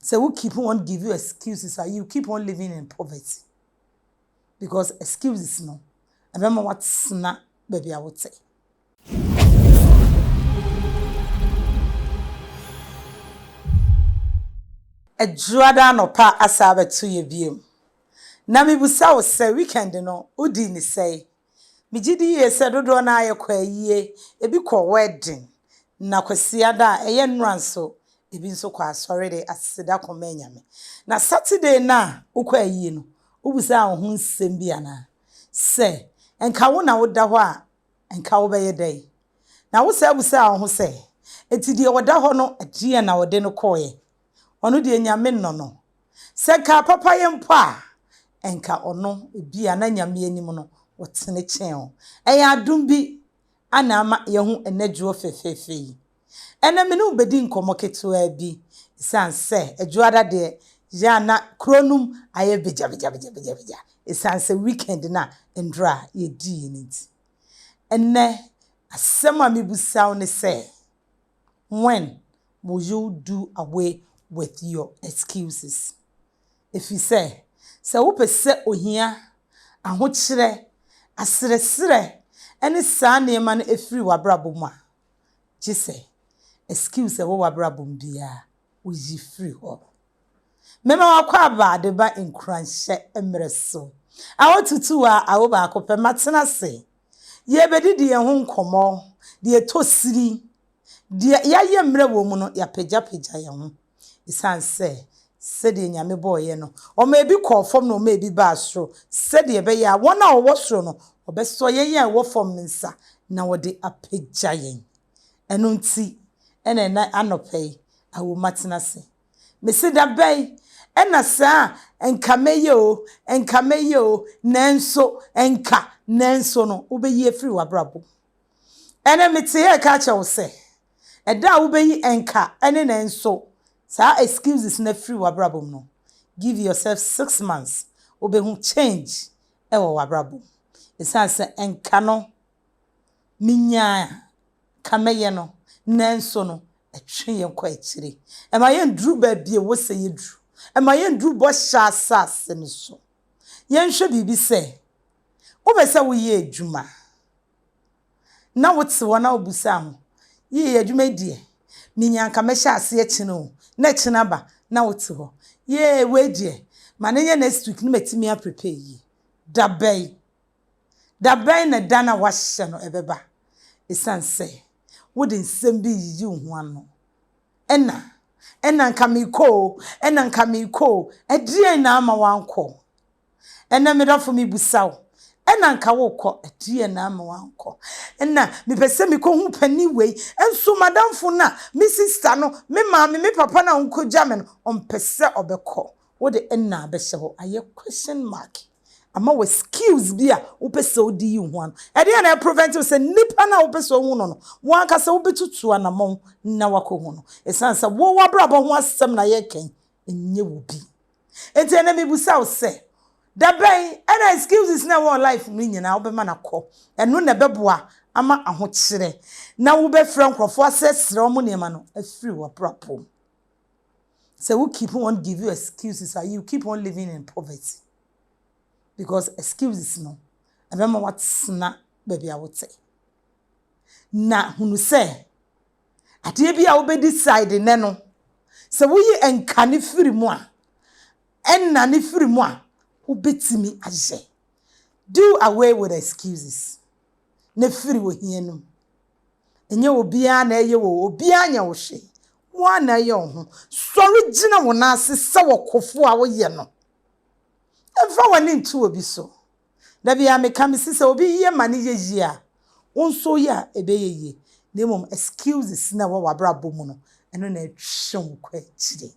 Sɛ wo keep on give you excuses a you keep on living in poverty because excuses no ɛbɛma watena baabi a wote. Adwuada anɔpa asa abɛto yɛ biom na mebisa wo sɛ weekend no wodii ne sɛe? Megye di yie sɛ dodoɔ no ara yɛkɔ ayie, ebi kɔ wedding, na Kwasiada a ɛyɛ nnora nso, ebi nso kɔ asɔre de aseda kɔma anyame. Na Saturday no a wokɔ ayie no, wobisaa wo ho nsɛm bi anaa? Sɛ nka wo na woda hɔ a, nka wobɛyɛ dɛn? Na wosan bisaa wo ho sɛ, Enti deɛ ɔda hɔ no, ɛdeɛn na ɔde no kɔeɛ? Ɔno deɛ Nyame nnɔ no. Sɛ nka papa yɛ mpo a, nka ɔno ebia na Nyame anim no ɔtene kyɛn wo. Ɛyɛ adom bi na ama yɛahu ɛnɛ dwoɔ fɛfɛɛfɛ yi. Ɛnɛ me ne wo bɛdi nkɔmmɔ ketewaa bi, ɛsiane sɛ adwoada deɛ yɛ a na kuro no mu ayɛ begyabegyabegyabegya ɛsiane sɛ weekend no a nnora a yɛdiiɛ no nti. Ɛnɛ asɛm a mebisa wo ne sɛ, when will you do away with your excuses? Ɛfiri sɛ, sɛ wopɛ sɛ ohia, ahokyerɛ, aserɛserɛ ne saa nneɛma no firi w'abrabɔ mu a, gye sɛ excuse a ɛwɔ w'abrabɔ mu biara woyi firi hɔ. Mɛma w'akwaaba de ba nkuranhyɛ mmerɛ so. Awo tutu a awo baako pɛ, matena ase. Yɛrebɛdidi yɛn ho nkɔmmɔ, deɛ ɛtɔ sini. Deɛ yɛayɛ mmerɛ wɔ mu no, yɛapagyapagya yɛn ho, ɛsiane sɛ sɛdeɛ Nyame bɔeɛ no, ɔmaa bi kɔɔ fam na ɔmaa bi baa soro, sɛdeɛ ɛbɛyɛ a wɔn a wɔwɔ soro no, wɔbɛsɔ yɛn a yɛwɔ fam no nsa, na wɔde apagya yɛn. Ɛno nti na ɛnnɛ anɔpa yi, awo matena ase. Mese da bɛn na saa a anka mɛyɛ o, anka mɛyɛ o, nanso, anka, nanso no, wobɛyi afiri w'abrabɔ mu. Ɛnɛ mete yɛ reka akyerɛ wo sɛ, ɛda a wobɛyi ɛnka ne nɛ nso saa excuses no afiri w'abrabɔ mu no, give yourself six months, wobɛhu change wɔ w'abrabɔ mu. Ɛsiane sɛ ɛnka no menyaa ka mɛyɛ no, nanso no ɛtwe yɛn kɔ akyire. Ɛma yɛnduru baabi a ɛwɔ sɛ yɛduru. Ɛma yɛnduru bɔhyɛ asase no so. Yɛnhwɛ biribi sɛ, wopɛ sɛ woyɛ adwuma na wote hɔ na wobisa ho, Yie, adwuma yi deɛ, minya a anka mɛhyɛ aseɛ kyena o, na kyena aba na wote hɔ, Yee, wei deɛ, ma no nyɛ next week na matumi a prepare yie. Dabɛn Da bɛn na da no a wɔahyɛ no bɛba? Esiane sɛ wode nsɛm bi reyiyi wo ho ano. Ɛna, ɛna anka merekɔ o, ɛna anka merekɔ o. Ɛdeɛn na ama woankɔ? Ɛnɛ me dɔfo mebisa wo, ɛna anka worekɔ, ɛdeɛn na ama woankɔ? Ɛna mepɛ sɛ mekɔhu panin wei, nso m'adamfo no a, me sista no, me maame, me papa no a wonkɔgya me no, ɔmpɛ sɛ ɔbɛkɔ. Wode ɛna abɛhyɛ hɔ, ayɛ question mark. ama wo skills bi a wopɛ sɛ wode yi wo ho ano. Ɛdeɛn na ɛprevent wo sɛ nipa no a wopɛ sɛ wohu no no, wo ankasa wobɛtutu anamɔn na woakɔhu no? Ɛsiane sɛ wo w'abrabɔ ho asɛm na yɛreka yi, ɛnyɛ wo bi. Nti ɛnɛ mebisa wo sɛ, da bɛn ɛna excuses na ɛwɔ wo life mu no nyinaa wobɛma no akɔ? Ɛno na ɛbɛboa ama ahokyerɛ na wobɛfrɛ nkurɔfoɔ asrɛsrɛ wɔn nneɛma no afiri w'abrabɔ mu. Sɛ wo keep on give you excuses a, you keep on living in poverty because excuses no ɛbɛma watena baabi a wote. Na hunu sɛ adeɛ bi a wobɛ decide nɛ no sɛ woyi nka ne firi mu a ɛna ne firi mu a wobɛtumi ayɛ. Do away with excuses na firi ohia no mu. Ɛnyɛ obiara na ɛyɛ wo, obiara nyɛ wo hwee. Wo ara na ɛyɛ wo ho. Sɔre gyina wo nan ase sɛ ɔkofo a woyɛ no. Mfa w'ani nto obi so. Da biara meka, mese sɛ obi yɛ ma no yɛ yie a, wo nso woyɛ a, ɛbɛyɛ yie. Na mmom excuses na ɛwɔ w'abrabɔ mu no, ɛno na ɛtwe wo kɔ akyire.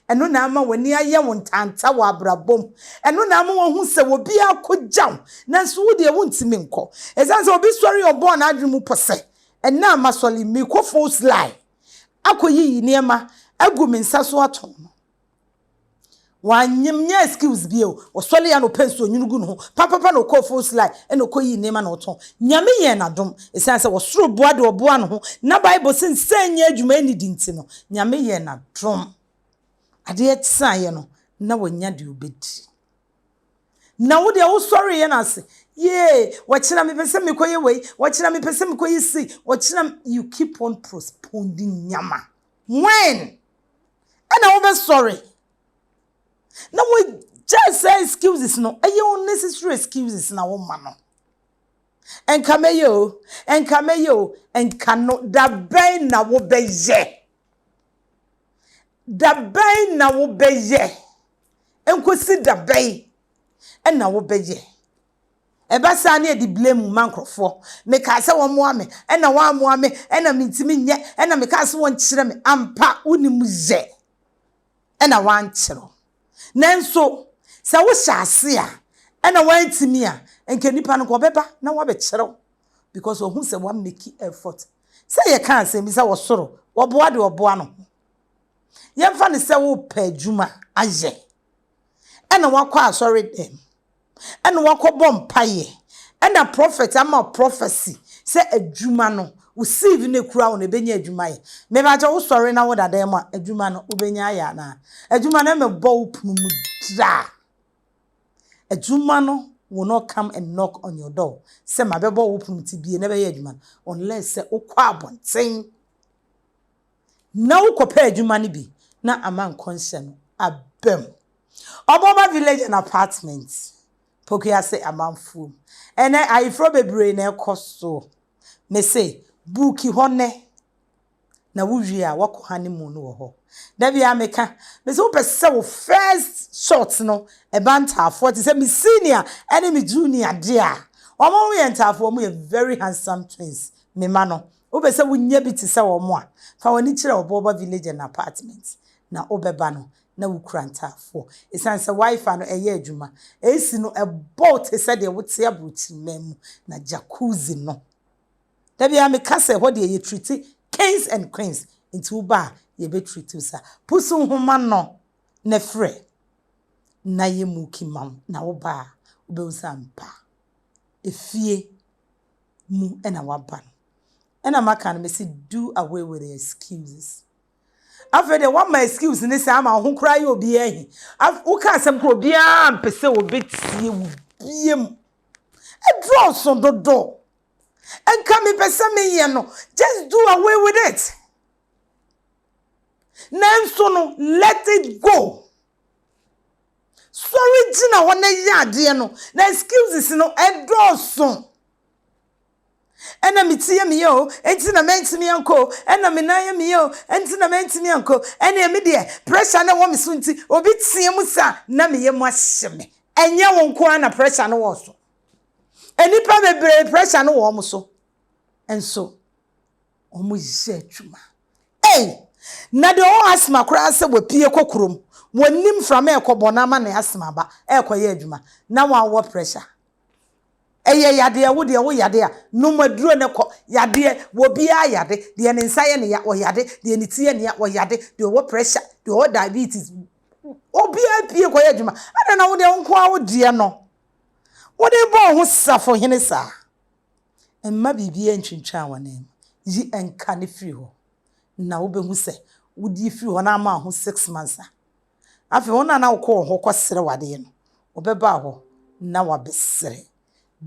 Ɛno na ama w'ani ayɛ wo ntanta wɔ abrabɔ mu. Ɛno na ama woahu sɛ obiara akogya wo, nanso wo deɛ wontumi nkɔ. Ɛsiane sɛ obi sɔre a ɔbɔɔ n'adwene mu pɔ sɛ, Ɛnnɛ a masɔre yi, merekɔ Fool's Lie akɔyiyi nneɛma agu me nsa so atɔn no, wanyɛ excuse bio. Ɔsɔree anɔpa nsuo nwunu gu ne ho papapa na ɔkɔɔ Fool's Lie ɛna ɔkɔyii nneɛma na ɔtɔn. Nyame yɛɛ no adom. Ɛsiane sɛ ɔsoro boa deɛ ɔboa ne ho, na Bible se nsa nyɛ adwuma nni di nti no, Nyame yɛɛ no adom, adeɛ kyeaeɛ no, na wanya deɛ ɔbɛdi. Na wo deɛ wosɔreeɛ no ase, yee, wɔkyena mepɛ sɛ mekɔyɛ wei, wɔkyena mepɛ sɛ mekɔyɛ sei, wɔkyena, you keep on postponing nneɛma. When ɛna wobɛsɔre na wagyae saa excuses no, ɛyɛ unnecessary excuses na woma no. Nka mɛyɛ o, nka mɛyɛ o, nka no. Da bɛn na wobɛyɛ? Da bɛn na wobɛyɛ? Nkosi da bɛn na wobɛyɛ? Ɛba saa na yɛde blame ma nkurɔfoɔ. Mekaa sɛ wɔmmoa me, ɛna wɔammoa me, ɛna mentumi nyɛ, ɛna mekaa sɛ wɔnkyerɛ me. Ampa, wonim yɛ, ɛna wɔankyerɛ wo. Nanso sɛ wohyɛ ase a ɛna woantumi a, nka nipa no nka ɔbɛba na wabɛkyerɛ wo because wahu sɛ wa make effort. Sɛ yɛka asɛm bi sɛ wɔ soro wɔboa deɛ ɔboa no ho. Yɛmfa no sɛ wopɛ adwuma ayɛ ɛna wakɔ asɔre dɛm. ɛna wakɔbɔ mpaeɛ ɛna prɔfɛt ama wo prɔfɛsi sɛ adwuma no wo siivi na ɛkura wo no ɛbɛnya adwuma ayɛ mepakyɛ wo sɔre na wo dadan mu a adwuma no wobɛnya ayɛ anaa adwuma no ɛmɛbɔ wo pono mu draa adwuma no will not come and knock on your door sɛ mabɛbɔ wo pono ti bie na ɛbɛyɛ adwuma no unless sɛ wokɔ abɔnten na wokɔpɛ adwuma no bi na ama nkɔnhyɛ no aba mu. Ɔbɔba Village and Apartment, Pokuase amanfoɔ mu. Ɛnɛ ayeforɔ bebree na ɛkɔ so. Mese buuki hɔ nnɛ na wowie a woakɔ honeymoon wɔ hɔ. Da biara meka, mese wopɛ sɛ wo first shot no ɛba ntaafoɔ te sɛ me senior ne me junior deɛ a, wɔn yɛ ntaafoɔ, wɔn yɛ very handsome twins, me mma no, Wopɛ sɛ wunya bi te sɛ wɔn a, fa w'ani kyerɛ Ɔbɔɔba Village and Apartments na wobɛba no na wukura ntaafoɔ. Esiane sɛ Wi-Fi no yɛ adwuma, AC no bɔ wo te sɛ deɛ wote aborɔkyiriman mu, na Jacuzzi no, da biara meka sɛ ɛhɔ deɛ yɛtriti kings and queens, enti woba a yɛbɛtriti wo saa. Pusu nhoma no na frɛ na yɛmmuuki ma wo, na woba a wobɛhu sɛ ampa efie mu na waba no. Ɛna maka no mese do away with the excuses. Afei deɛ wama excuse ne sɛ ama wo ho koraa yɛ obiara hi. Woka asɛm kora obiara mpɛ sɛ wɔbɛtie wo biam. Ɛdɔɔso dodo. Ɛnka mepɛ sɛ meyɛ no. Just do away with it. Nanso no, let it go. Sɔre gyina hɔ na yɛ adeɛ no. Na excuses no ɛdɔɔso. Ɛna me ti yɛ me yɛ o, ɛnti na mɛntumi ankɔ o. Ɛna me nan yɛ me yɛ o, ɛnti na mɛntumi ankɔ. Ɛneɛ me deɛ, pressure no ɛwɔ me so nti, obi teɛ mu saa na me yam ahye me. Ɛnyɛ wo nko ara na pressure no wɔ wo so. Nnipa bebree pressure no wɔ wɔn so nso. wɔyɛ adwuma. Ei! Na deɛ ɔwɔ asthma koraa sɛ wapue kɔ kurom, wɔnnim mframa a ɛkɔbɔ no ama ne asthma aba ɛrekɔyɛ adwuma, na wo a wowɔ pressure. Ɛyɛ yadeɛ, wo deɛ woyade a, nom aduro no kɔ. Yadeɛ, obiara yade, deɛ ne nsa yɛ no ya, ɔyade, deɛ ne ti yɛ no ya, ɔyade, deɛ ɔwɔ pressure, deɛ ɔwɔ diabetes, obiara pue kɔyɛ adwuma. Adɛn na wo deɛ wo nko ara wo deɛ no, wode rebɔ wo ho safohene saa? Mma biribiara ntwintwan w'ananmu. Yi nka no firi hɔ na wobɛhu sɛ wode afiri hɔ na ama wo ho six months a, afei wɔn a na wokɔ wɔn hɔ kɔsrɛ wo adeɛ no, wɔbɛba wo hɔ na wɔabɛsrɛ.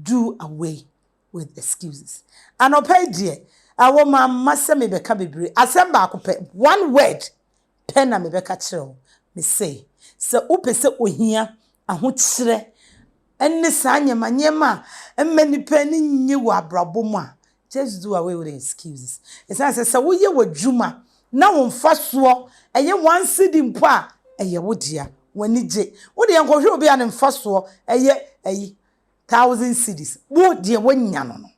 Do away with excuses. Anɔpa yi deɛ, ɛwɔ ma mma sɛ mebɛka bebree. Asɛm baako pɛ, one word, pɛ na mebɛka kyerɛ wo. Mese, sɛ wopɛ sɛ ohia, ahokyerɛ, ne saa nneɛma nneɛma a ɛmma nnipa ani nnye wɔ abrabɔ mu a, just do away with excuses. Ɛsiane sɛ sɛ woyɛ w'adwuma na wo mfasoɔ yɛ one cedi mpo a, ɛyɛ wo dea, w'ani gye. Wo deɛ nkɔhwɛ obi a ne mfasoɔ yɛ ayi, thousand cedis, wo deɛ woanya no no.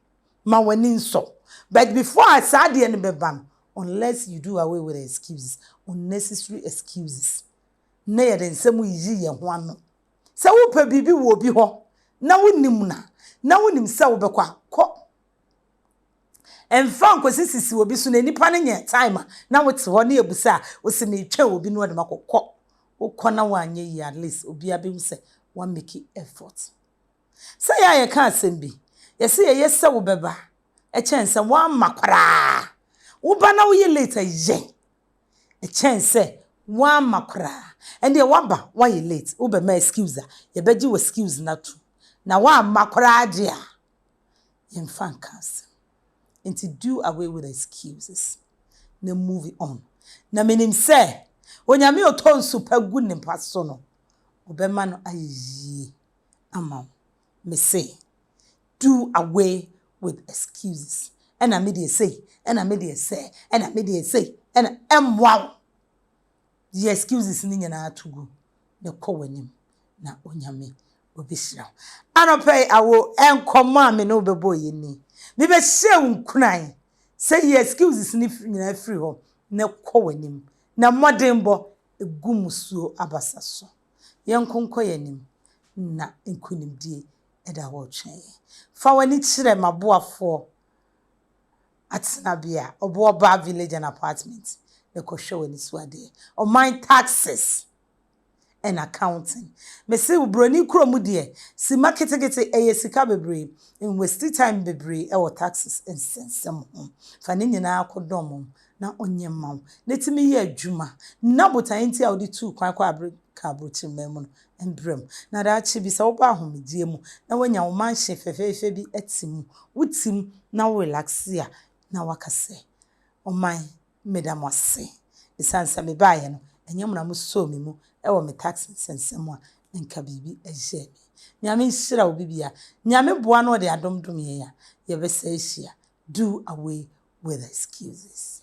ma w'ani nsɔ but before a saa adeɛ no bɛba no unless you do away with excuses, unnecessary excuses na yɛde nsɛm yiyi yɛn ho ano. Sɛ wopɛ biribi wɔ obi hɔ na wonim no a, na wonim sɛ wobɛkɔ a, kɔ. Mfa nkɔsi sisi obi so na nipa no nyɛ time a na wote hɔ na yɛbu sɛ a wose metwɛn obi na ɔde makɔ. Kɔ. Wokɔ na woanyɛ yie at least obiara bɛhu sɛ woamake effort. Sɛ yɛ a yɛka asɛm bi, yɛse yɛyɛ sɛ wobɛba kyɛn sɛ woamma koraa. Woba na woyɛ late a yɛ kyɛn sɛ woamma koraa. Ɛndeɛ woaba, woayɛ late, wobɛma excuse a, yɛbɛgye wo excuse no atom. Na woamma koraa deɛ a, yɛmfa nka asɛm. Nti do away with excuses na move on. Na menim sɛ Onyame a ɔtɔ nsu pa gu ne mpa so no, ɔbɛma no ayɛ yie. ama wo. Mese do away with excuses, ɛna me deɛ sei, ɛna me deɛ sɛɛ, ɛna me deɛ sei, ɛna, ɛmmoa wo. Yi excuses no nyinaa to gu na kɔ w'anim na Onyame ɔbɛhyira wo. Anɔpa yi awo nkɔmmɔ a me ne wo bɛbɔ yɛ ni. Mebɛhyɛ wo nkuran sɛ yi excuses no nyinaa firi hɔ na kɔ w'anim na mmɔdenbɔ gu musuo abasa so. Yɛnko nkɔ yɛn anim, na nkonimdie da hɔ retwɛn yɛn. Fa w'ani kyerɛ m'aboafoɔ atenabea, Obuobaa Village and Apartments, na kɔhwɛ w'ani so adeɛ. Ɔman Taxes and Accounting. Mese wo broni kuro mu deɛ, sima ketekete, ɛyɛ sika bebree. Nwasti time bebree wɔ taxes nsɛnsɛm ho. Fa ne nyinaa kɔdɔm na ɔnyɛ mma wo na ɛtumi yɛ adwuma na botaeɛ nti a wode tuu kwan kɔɔ Amerika aburokyiri man mu no mbrɛ mu na daakye bi sɛ wobɔ ahomegyeɛ mu na woanya wo mansion fɛfɛɛfɛ bi te mu wo te mu na wo relaxe a na woaka sɛ ɔman meda mo ase ɛsiane sɛ mebaeɛ no ɛnyɛ mo na mo sɔɔ me mu wɔ me tax nsɛnsɛm mu a nka biribi ɛyɛɛ me Nyame nhyira obi bia Nyame boa na ɔde adom dom yɛn a yɛbɛsa ahyia do away with excuses.